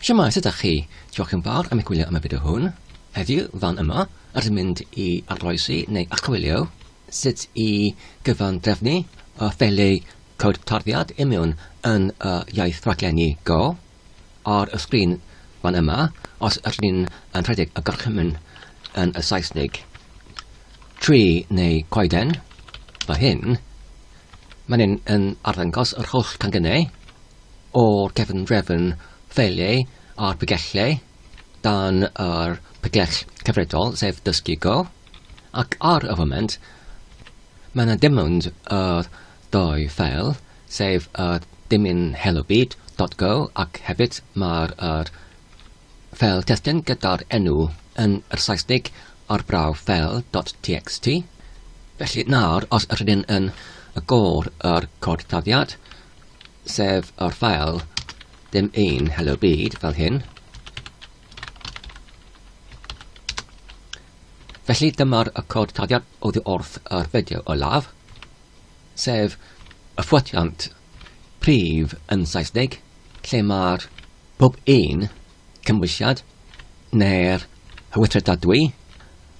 Shwmae, sut dach chi? Diolch yn fawr am eich gwylio am y fideo hwn. Heddiw, fan yma, rydym mynd i arloesi neu archwilio sut i gyfan drefnu y ffeili cod tarddiad imiwn yn y iaith rhaglenni Go ar y sgrin fan yma os ydyn ni'n yn rhedeg y gorchymyn yn y Saesnig. Tri neu coeden, mae hyn Mae'n hyn yn arddangos yr holl gangynnau o'r cefn drefn ffeiliau a'r pregyllau dan yr pregell cyfredol, sef dysgu go, ac ar y foment mae yna dim ond yr doi ffeil, sef yr dymun hello bead.go ac hefyd mae'r yr fel testun gyda'r enw yn yr Saesnig ar brawf fel dot txt. Felly nawr, os yr ydyn yn agor yr cod taddiad, sef yr ffael dim un hello byd fel hyn, Felly dyma'r y cod taddiad oddi wrth yr fideo olaf, sef y ffwtiant prif yn Saesneg, lle mae'r pob un cymwysiad neu'r hywythredadwy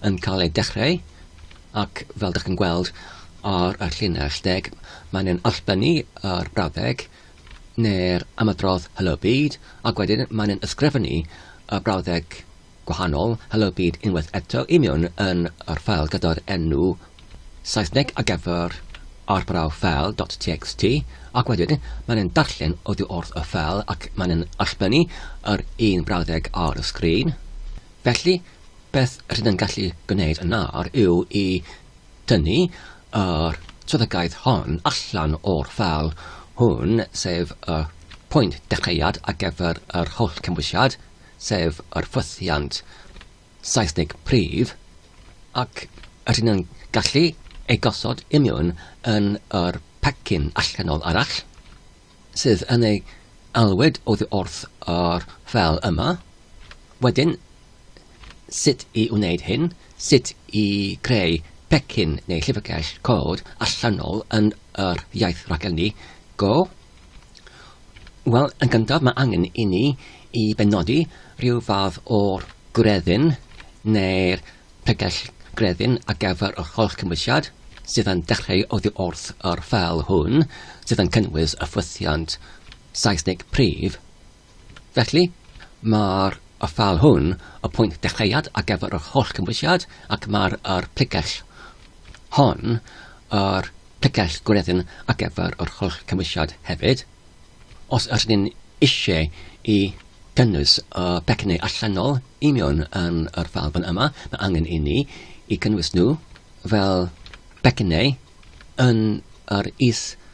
yn cael ei dechreu ac fel dych chi'n gweld ar y llinell deg mae'n yn allbynnu yr brawddeg neu'r ymadrodd Helo Byd ac wedyn mae'n yn ysgrifennu y brawddeg gwahanol, helybid unwaith eto union yn yr ffeil gyda'r enw Saesneg ar gyfer arbrawf ffeil dot txt ac wedyn mae'n yn darllen oddi wrth y ffeil ac mae'n yn allbynnu yr un brawddeg ar y sgrin. Felly, beth rydyn yn gallu gwneud yn nawr yw i tynnu yr swyddogaeth hon allan o'r ffeil hwn, sef y pwynt dechreuad ar gyfer yr holl cymwysiad, sef yr ffythiant Seisnig prif, ac rydyn yn gallu ei gosod i mewn yn yr pecyn allanol arall, sydd yn ei alwyd oddi wrth yr ffeil yma. Wedyn, sut i wneud hyn, sut i greu pecyn neu llyfrgell cod allanol yn yr iaith raglenni Go. Wel, yn gyntaf mae angen i ni i benodi rhyw fath o'r gwreddyn neu'r pregell grefyn ar gyfer yr holl gymwysiad sydd yn dechreu oddi wrth yr ffeil hwn sydd yn cynnwys y ffwythiant Saesnig prif. Felly, mae'r ffeil hwn y pwynt dechreuad ar gyfer yr holl gymwysiad ac mae'r yr pregell hon yr pregell gwreddyn ar gyfer yr holl cymwysiad hefyd. Os ydyn ni'n eisiau i gynnwys y pecynnau allanol i mewn yn yr ffeil fan yma, mae angen i ni i gynnwys nhw fel pecynnau yn yr is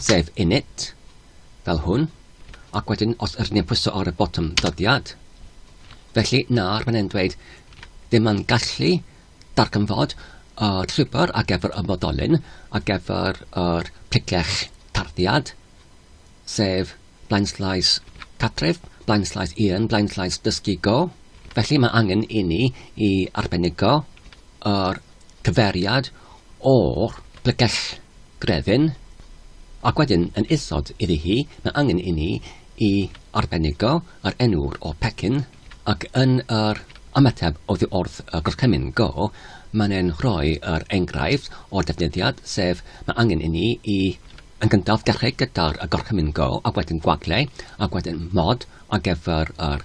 Sef init, fel hwn, ac wedyn os ydyn ni'n pwyso ar y botwm ddyddiad. Felly, nawr mae'n e'n dweud, ddim mae'n gallu darganfod y uh, llwybr ar gyfer y moddolyn ar gyfer yr uh, picell tarddiad, sef blaenslais catref, blaenslais un, blaenslais dysgu go. Felly mae angen i ni i arbenigo yr cyfeiriad o'r lygell grefyn ac wedyn yn isod iddi hi, mae angen i ni i arbenigo yr enw o'r pecyn ac yn yr ymateb oddi wrth y gorchymyn go, mae'n ein rhoi yr enghraifft o'r defnyddiad, sef mae angen i ni i yn gyntaf dechrau gyda'r gorchymyn go ac wedyn gwagle ac wedyn mod ar gyfer yr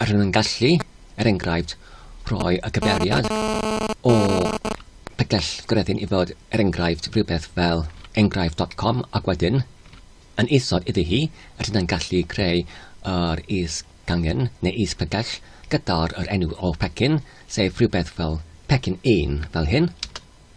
Rydym yn gallu, er enghraifft, rhoi y cymeriad o pegell gwreddyn i fod, er enghraifft, rhywbeth fel enghraifft dot com ac wedyn, yn isod iddi hi, rydym yn gallu creu yr is-gangen neu is-pegell gyda'r yr enw o pecyn, sef rhywbeth fel pecyn 1, fel hyn.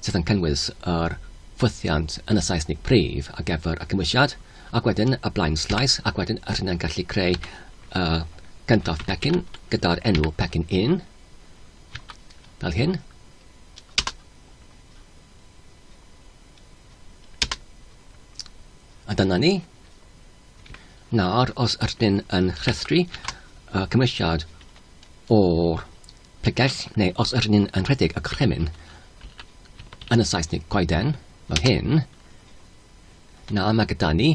sydd yn cynnwys yr ffwythiant yn y Saesnig prif ar gyfer y cymwysiad, ac wedyn y blaenslais, ac wedyn yr hyn yn gallu creu y cyntaf pecyn gyda'r enw pecyn 1, fel hyn. A dyna ni. Nawr, os ydyn yn rhestru y cymwysiad o'r Pe gaill, neu os yr ynyn yn rhedeg y cremyn, yn y Saesnig goeden, fel hyn, na mae gyda ni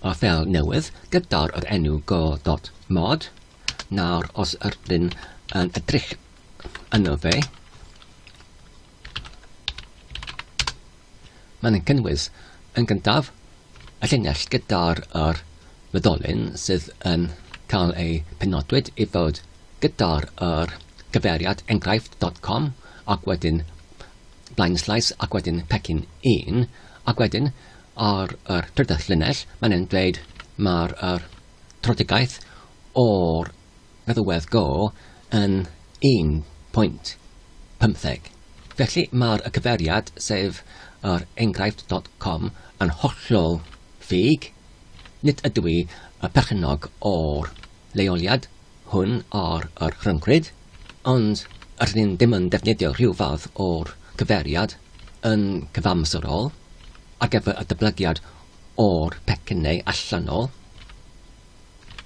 a fel newydd gyda'r yr enw go dot mod, nawr os yr ynyn yn edrych yno fe, Maen yn cynnwys, yn gyntaf, y llinell gyda'r yr fyddolyn sydd yn cael ei penodwyd i fod gyda'r yr gyfeiriad enghraifft dot com ac wedyn blaenslais ac wedyn pecyn un ac wedyn ar yr trydydd llinell maen yn dweud mae'r yr trotegaeth o'r Rhywedd gôl yn 1.15. Felly mae'r y cyfeiriad, sef yr enghraifft dot com, yn hollol ffug, nid ydw i y perchennog o'r leoliad hwn ar yr rhyncryd, ond rydyn ni ddim yn defnyddio rhyw fath o'r cyfeiriad yn cyfamserol ar gyfer y datblygiad o'r pecynnau allanol.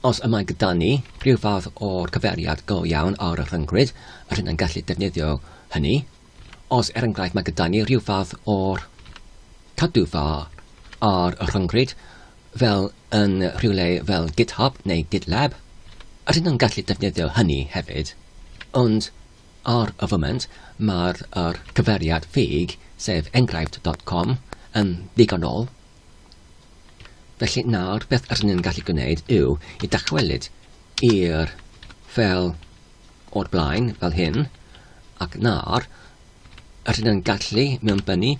Os y mae gyda ni rhyw fath o gyfeiriad go iawn ar y rhyngrwyd, yr hyn yn gallu defnyddio hynny. Os, er enghraifft, mae gyda ni rhyw fath o'r cadw fa ar y rhyngrwyd, fel yn rhywle fel GitHub neu GitLab, yr hyn yn gallu defnyddio hynny hefyd. Ond ar y foment, mae'r cyfeiriad ffug, sef enghraifft.com, yn ddigonol Felly nawr beth rydyn ni'n gallu gwneud yw i dychwelyd i'r fel o'r blaen, fel hyn, ac nawr rydyn ni'n gallu mewnbynnu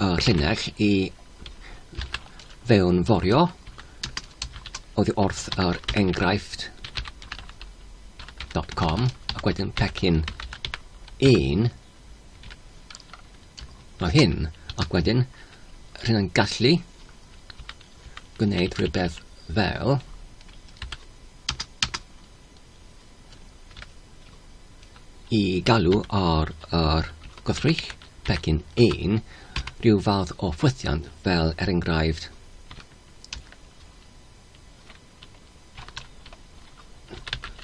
y llinell i fewn forio oddi wrth yr enghraifft .com ac wedyn pecyn 1 Nawr hyn, ac wedyn rhyn yn gallu gwneud rhywbeth fel i galw ar yr gwrthrych pecyn 1 rhyw fath o ffwythiant fel er enghraifft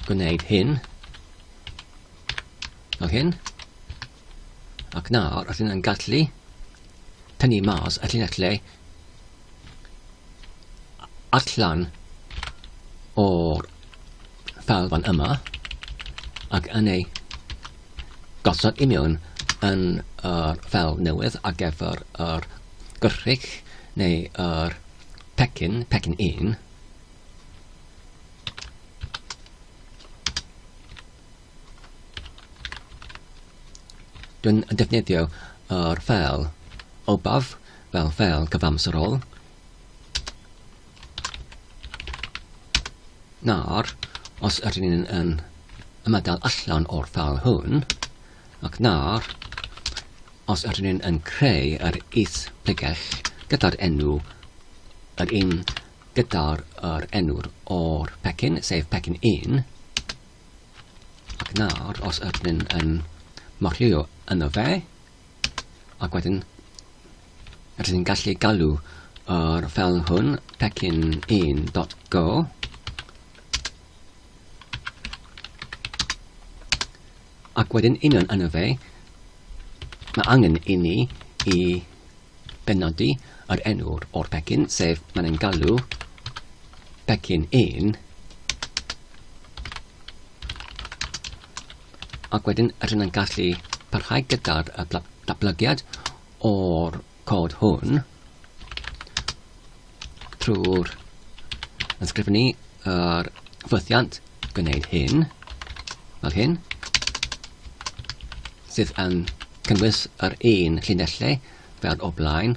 gwneud hyn fel hyn ac nawr os yna'n gallu tynnu mas y llinellau allan o'r fel fan yma ac yn ei gosod i mewn yn yr fel newydd ar gyfer yr gyrrig neu yr Pecyn, pecyn un. Dwi'n defnyddio yr ffel obaf fel ffel cyfamserol. Nawr, os ydyn ni'n yn ymadael allan o'r ffel hwn, Ac nawr, os ydyn ni yn creu yr is-bregeth gyda'r enw, yr un gyda'r yr enw o'r pecyn, sef pecyn 1, ac nawr, os ydyn ni yn marchlio yno fe, ac wedyn, ydyn ni'n gallu galw yr fel hwn, pecyn 1.go, Ac wedyn union yna fe, mae angen i ni i benodi yr enw o'r pecyn, sef mae'n ein galw pecyn 1 ac wedyn rydyn yn gallu parhau gyda'r datblygiad o'r cod hwn trwy'r ysgrifennu yr ffwythiant gwneud hyn, fel hyn, sydd yn cynnwys yr un llinellau fel o blaen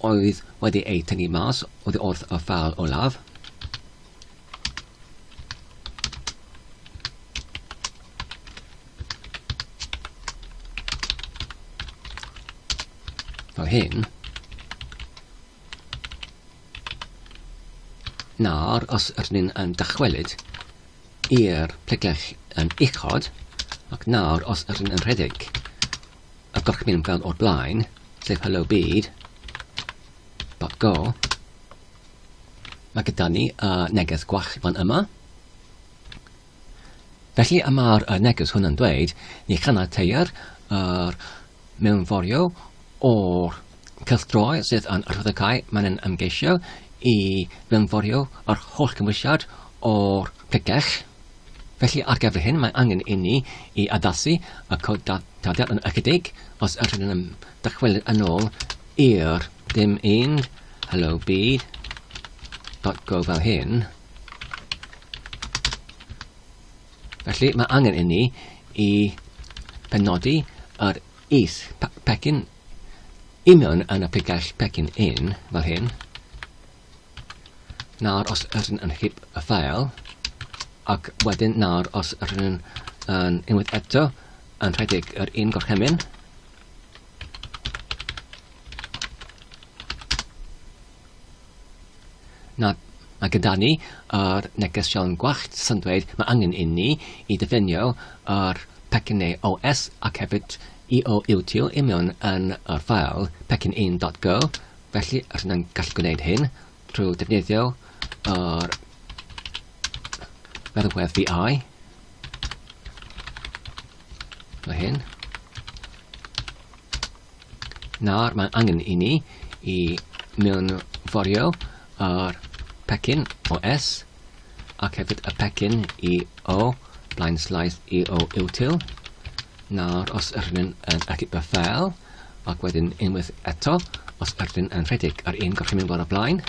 oedd wedi eu tynnu mas oddi wrth y ffal olaf. fel hyn. Nawr, os ydyn ni'n um, dychwelyd i'r plegell yn um, uchod, ac nawr, os ydyn ni'n rhedeg y gorchmyn fel o'r blaen, sef hello byd, dot go, Mae gyda ni y neges gwall fan yma. Felly y mae'r y neges hwn yn dweud, ni chaniateir yr mewnforio o'r cylchdroi sydd yn rhyddhau mae'n yn ymgeisio i fewnforio yr holl gymwysiad o'r pregell. Felly ar gyfer hyn mae angen i ni i addasu y cod daliad yn ychydig os ydyn yn dychwelyd yn ôl i'r Dim ond hello byd. Dot go fel hyn. Felly mae angen inni i penodi yr is pecyn i mewn yn y pigell pecyn un fel hyn. Nawr os ydyn yn hip y ffael ac wedyn nawr os ydyn yn unwaith eto yn rhedeg yr un gorchymyn Na, mae gyda ni yr neges siawn gwallt sy'n dweud mae angen i ni i ddefnio yr pecyn ei OS ac hefyd i o iwtio i mewn yn yr ffael pecyn 1.go felly rydyn ni'n gallu gwneud hyn trwy defnyddio yr meddalwedd VI Mae hyn. Nawr mae angen i ni i mewnforio ar pecyn o S ac hefyd y pecyn i O blaen slaeth i O util. Nawr os ydyn yn achub y ffel ac wedyn unwaith eto os ydyn yn rhedeg ar un gorchymyn bore blaen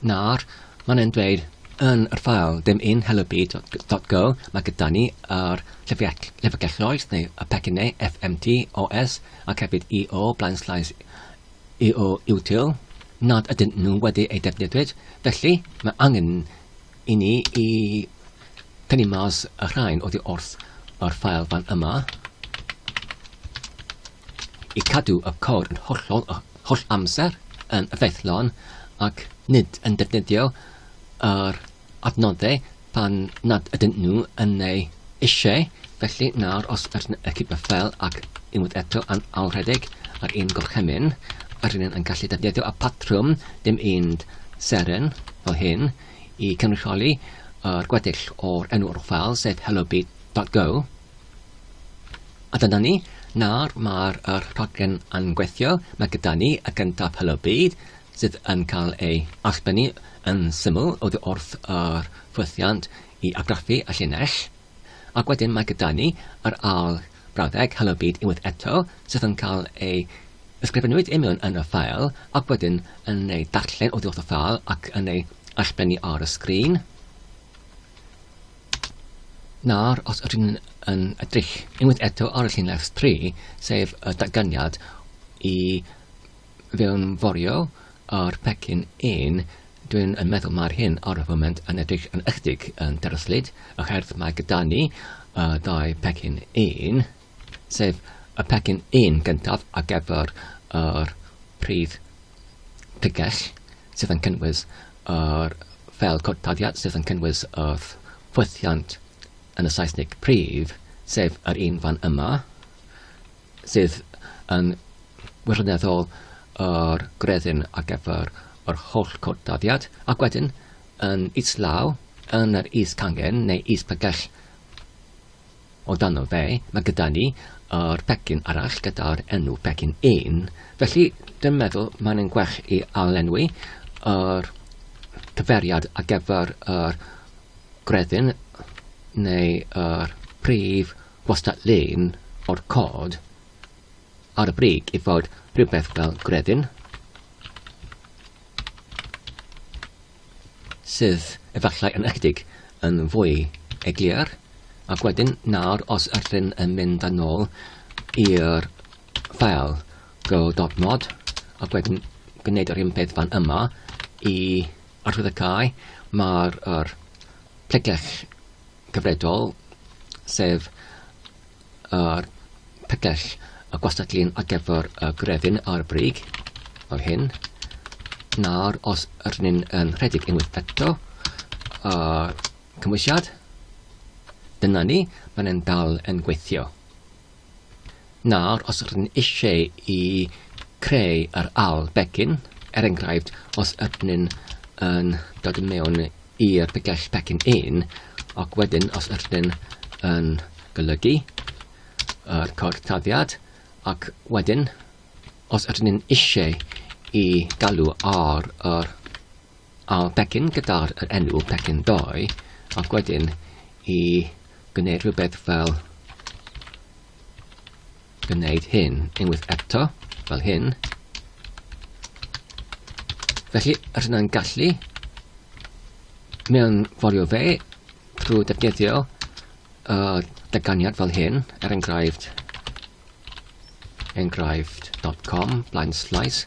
Nawr, mae'n e'n dweud yn yr ffael dim un help.go mae gyda ni ar llyfrgelloedd neu y pecynnau FMT, OS ac hefyd EO, blaen slais EO util nad ydyn nhw wedi ei defnyddio. Felly, mae angen i ni i tynnu mas y rhain oddi wrth yr ffael fan yma i cadw y cod yn hollol y holl amser yn effeithlon ac nid yn defnyddio yr adnoddau pan nad ydyn nhw yn ei eisiau. Felly nawr os ydyn nhw eich y ffel ac unwaith eto yn awredig ar un gorchymyn, ydyn nhw'n yn gallu defnyddio y patrwm dim un seren fel hyn, i cynrychioli yr gweddill o'r enw o'r ffeil, sef hellobit.go. A dyna ni, nawr mae'r er rhaglen yn gweithio, mae gyda ni y gyntaf hellobit sydd yn cael ei allbynnu yn syml oddi wrth yr ffwythiant i argraffu y llinell. Ac wedyn mae gyda ni yr ail brawddeg, Helo Byd Unwaith Eto, sydd yn cael ei ysgrifennwyd i mewn yn y ffeil ac wedyn yn ei darllen oddi wrth y ffeil ac yn ei allblennu ar y sgrin. Nawr, os ydyn ni'n yn edrych unwaith eto ar y llinell 3, sef y datganiad i fewnforio ar pecyn un, dwi'n yn meddwl mae'r hyn ar y foment yn edrych yn ychydig yn dryslyd, oherwydd mae gyda ni uh, dau pecyn un, sef y pecyn un gyntaf ar gyfer yr prif pigell sydd yn cynnwys yr fel cortadiad sydd yn cynnwys y ffwythiant yn y Saesneg prif, sef yr un fan yma, sydd yn wirioneddol yr greddyn ar gyfer yr holl cwrdd-dyddiad, ac wedyn yn islaw yn yr is-cangen neu is-bregell o dano fe, mae gyda ni yr pecyn arall gyda'r enw pecyn un, felly dwi'n meddwl mae'n yn gwell i alenwi yr cyferiad ar gyfer yr greddyn neu yr prif gwastatlun o'r cod ar y brig i fod rhywbeth fel gredyn, sydd efallai yn ychydig yn fwy eglur, ac wedyn nawr os ydyn yn mynd yn ôl i'r ffael go.mod ac wedyn gwneud yr un peth fan yma i archwiliadau, mae'r er, plegell cyfredol, sef yr pegell y gwastatlun ar gyfer y grefyn ar y brig, fel hyn. Nawr, os ydyn ni'n yn rhedeg unwaith eto, y cymwysiad, dyna ni, mae'n dal yn gweithio. Nawr, os rydyn ni eisiau i creu yr ail becyn, er enghraifft, os ydyn ni'n yn dod yn mewn i'r bygell becyn 1, ac wedyn os ydyn ni'n yn golygu yr cod taddiad, ac wedyn os ydyn ni'n eisiau i galw ar yr a'r pecyn gyda'r yr enw pecyn doi ac wedyn i gwneud rhywbeth fel gwneud hyn unwaith eto fel hyn felly yr yna'n gallu mewn forio fe drwy defnyddio uh, dyganiad fel hyn er enghraifft enghraifft.com blaen slice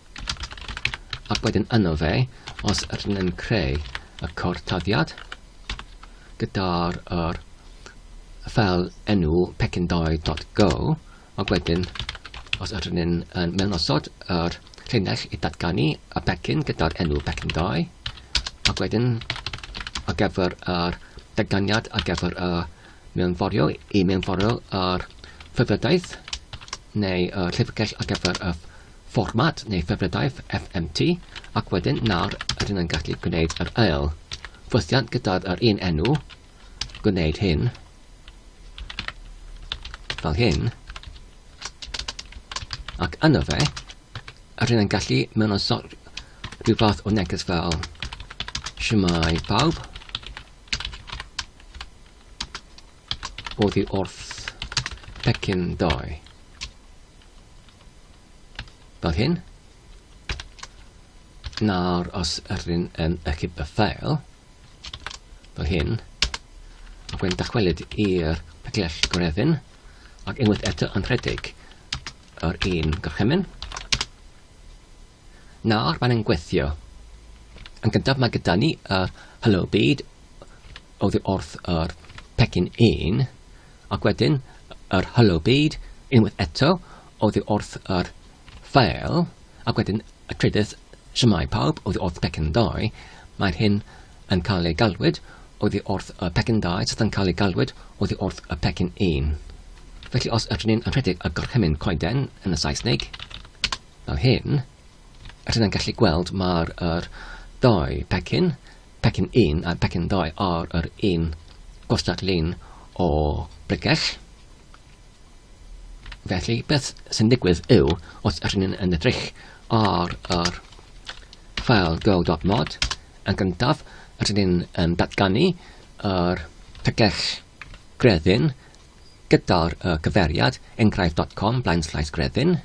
Ac wedyn yno fe, os ydyn yn creu y cortaddiad gyda'r yr fel enw pecyndoedd.go, ac wedyn os ydyn yn, yn mewnosod yr llinell i datganu y pecyn gyda'r enw pecyndoe, ac wedyn ar gyfer yr datganiad ar gyfer y mewnforio i mewnforio yr ffurfiodaeth neu y llyfrgell ar gyfer y fformat neu ffefrydaeth FMT ac wedyn nawr rydyn yn gallu gwneud yr ail ffwythiant gydag yr un enw, gwneud hyn, fel hyn, ac yno fe, rydyn yn gallu mewn o sort rhyw fath o neges fel Siwmai pawb, oddi wrth pecyn doi. Fel hyn. Nawr, os ydyn yn ychyb y ffael, fel hyn, ac wedyn dychwelyd i'r peglell gorefin, ac unwaith eto yn rhedeg yr un gorchymyn, Nawr mae'n gweithio. Yn gyntaf mae gyda ni yr Hello Byd oddi wrth yr pecyn 1 ac wedyn yr Hello Byd unwaith eto oddi wrth yr ffael ac wedyn y trydydd Siamai Pawb oddi wrth pecyn 2. Mae'r hyn yn cael ei galwyd oddi wrth y pecyn 2 sydd yn cael ei galwyd oddi wrth y pecyn 1. Felly os ydyn ni'n anrhedeg y gorchymyn coeden yn y Saesneg, Fel hyn, rydyn yn gallu gweld mae'r yr ddau pecyn, pecyn 1 a pecyn 2 ar yr un gwastad lun o bregell. Felly, beth sy'n digwydd yw, os ydyn ni'n yn edrych ar yr ffael go.mod, yn gyntaf, ydyn ni'n um, datganu yr tegell greddyn gyda'r uh, cyferiad enghraifft.com blaen slaes greddyn,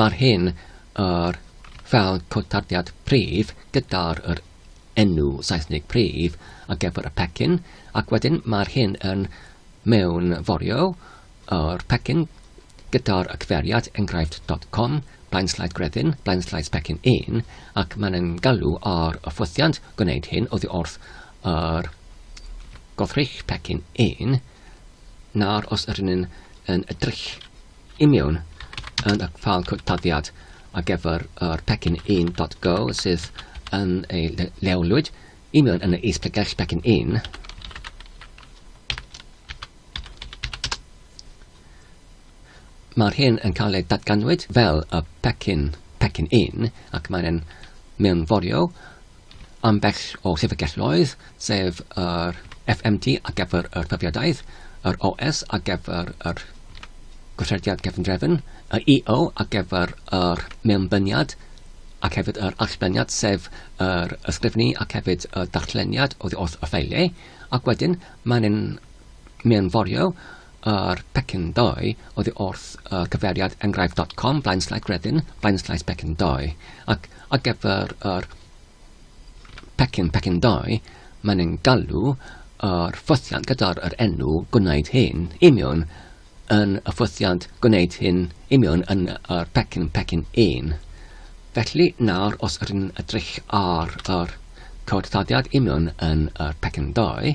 Mae'r hyn yr fel cotarddiad prif gyda'r yr enw Saesnig prif ar gyfer y pecyn ac wedyn mae'r hyn yn mewnforio yr pecyn gyda'r y cyfeiriad enghraifft.com blaen slaid gredyn blaen slaid pecyn 1 ac mae'n yn galw ar y ffwythiant gwneud hyn oddi wrth yr goddrych pecyn 1 nawr os ydyn yn edrych I mewn yn y ffâl cwtaddiad ar gyfer yr pecyn 1.go sydd yn ei leolwyd i mewn yn y is pregell pecyn 1. Mae'r hyn yn cael ei datganwyd fel y pecyn pecyn 1 ac mae'n mewnforio Ambell o llyfrgelloedd, sef yr FMT ar gyfer yr Profiadau, yr OS ar gyfer yr Gweithrediad Cefndrefn, y EO ar gyfer yr Mewnbyniad ac hefyd yr Allbyniad, sef yr ysgrifennu ac hefyd y darlleniad oddi wrth y ffeiliau, ac wedyn mae'n mewnforio Yr pecyn ddoe oddi wrth y cyfeiriad enghraifft dot com flaen slaes gredyn flaen slaes pecyn ddoe ac ar gyfer yr pecyn pecyn ddoe mae'n ein galw yr ffwythiant gyda'r yr enw gwneud hyn i mewn yn y ffwythiant gwneud hyn i mewn yn yr pecyn pecyn 1. Felly nawr os ydyn ni'n edrych ar yr cod taddiad i mewn yn yr pecyn ddoe,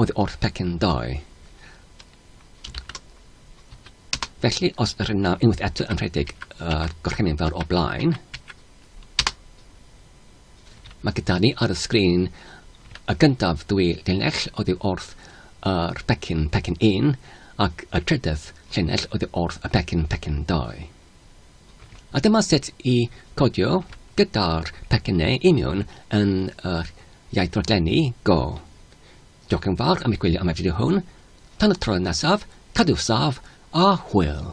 oedd wrth pecyn dau. Felly, os yr yna unwaith eto yn rhedeg y uh, gorchymyn fawr o blaen, mae gyda ni ar y sgrin y gyntaf dwy linell oedd yw wrth yr pecyn pecyn un ac y trydedd linell oedd yw wrth y pecyn pecyn dau. A dyma sut i codio gyda'r pecynau union yn yr iaith rodlenni go. Diolch yn fawr am eich gwylio am y fideo hwn. Tan y tro nesaf, cadw saf a hwyl!